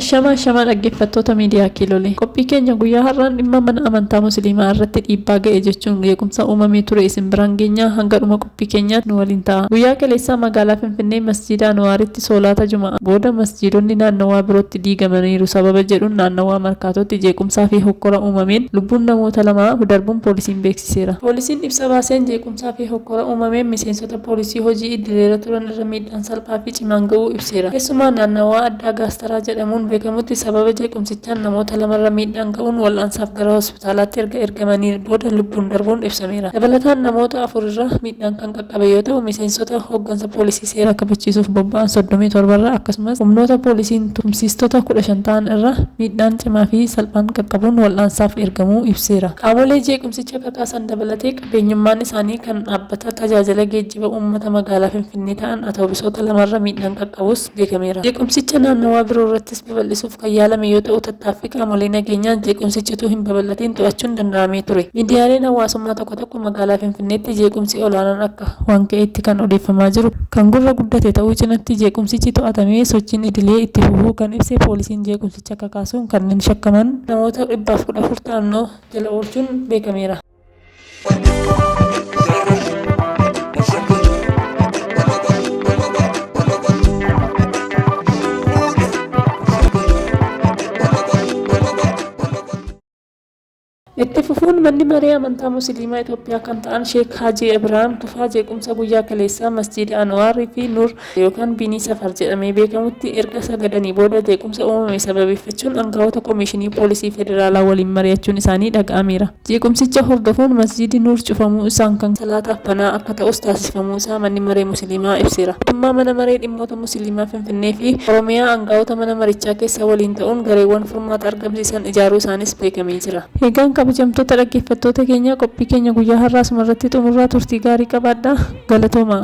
Shamaa shamaa dhaggeeffattoota miidiyaa kiilolee qophii keenya guyyaa har'aan dhimma mana amantaa musliimaa irratti dhiibbaa ga'e jechuun jeequmsa uumamee ture isin biraan geenyaa hanga dhuma Rabbi keenyaa nu waliin ta'a. Guyyaa kaleessaa magaalaa Finfinnee Masjiida Anuwaaritti soolaata Juma'aa booda masjiidonni naannawaa birootti diigamaniiru sababa jedhuun naannawaa Markaatootti jeequmsaa fi hokkora uumameen lubbuun namoota lamaa darbuun poolisiin beeksiseera. Poolisiin ibsa baaseen jeequmsaa fi hokkora uumameen miseensota poolisii hojii idileerra turan irra miidhaan salphaa fi cimaan ga'uu ibseera. Keessumaa naannawaa addaa Gaastaraa jedhamuun beekamutti sababa jeequmsichaan namoota lamarra miidhaan ga'uun wal'aansaaf gara hospitaalaatti erga ergamaniin booda lubbuun darbuun ibsameera. Dabalataan namoota afur irra miidhaan kan qaqqabe yoo ta'u, miseensota hooggansa poolisii seera kabachiisuuf bobba'an 37 irra akkasumas humnoota poolisiin tumsiistota 15 ta'an irra miidhaan cimaa fi salphaan qaqqabuun wal'aansaaf ergamuu ibseera. Qaamolee jeequmsicha kakaasan dabalatee qabeenyummaan isaanii kan dhaabbata tajaajila geejjiba uummata magaalaa Finfinnee ta'an atoobisoota lamarra miidhaan qaqqabus, beekameera. Jeequmsicha naannawaa biroo irrattis babal'isuuf kan yaalame yoo ta'u, tattaaffii qaamolee nageenyaan jeequmsichi utuu hin babal'atiin to'achuun danda'amee ture. Miidiyaaleen hawaasummaa tokko tokko magaalaa Finfinneetti jeequmsi olaanaan akka. waan ka'etti kan odeeffamaa jiru kan gurra guddate ta'uu cinatti jeequmsichi to'atamee sochiin idilee itti fufuu kan ibse poolisiin jeequmsicha kakaasuun kanneen shakkaman. namoota 114 ta'an to'annoo jala oolchuun beekameera. Itti fufuun manni maree amantaa musliimaa Itoophiyaa kan ta'an Sheek Haajii Ibraahim Tufaa jeequmsa guyyaa kaleessaa masjiida Anwaar fi Nur yookaan Binii Safar jedhamee beekamutti erga sagadanii booda jeequmsa uumame sababeeffachuun aangawoota Komishinii Poolisii Federaalaa waliin mari'achuun isaanii dhaga'ameera. Jeequmsicha hordofuun Masjiidi Nuur cufamuu isaan kan salaataaf banaa akka ta'us taasifamuu isaa Manni Maree Musiliimaa ibseera. Mootummaa Mana Maree Dhimmoota Musiliimaa Finfinnee fi Oromiyaa angaa'ota mana marichaa keessaa waliin ta'uun gareewwan furmaata argamsiisan ijaaruu isaaniis beekamee jira. Egaan kabajamtoota dhaggeeffattoota keenyaa qophii keenya guyyaa har'aa asumarratti xumurraa turtii gaarii qabaadhaa. Galatoomaa!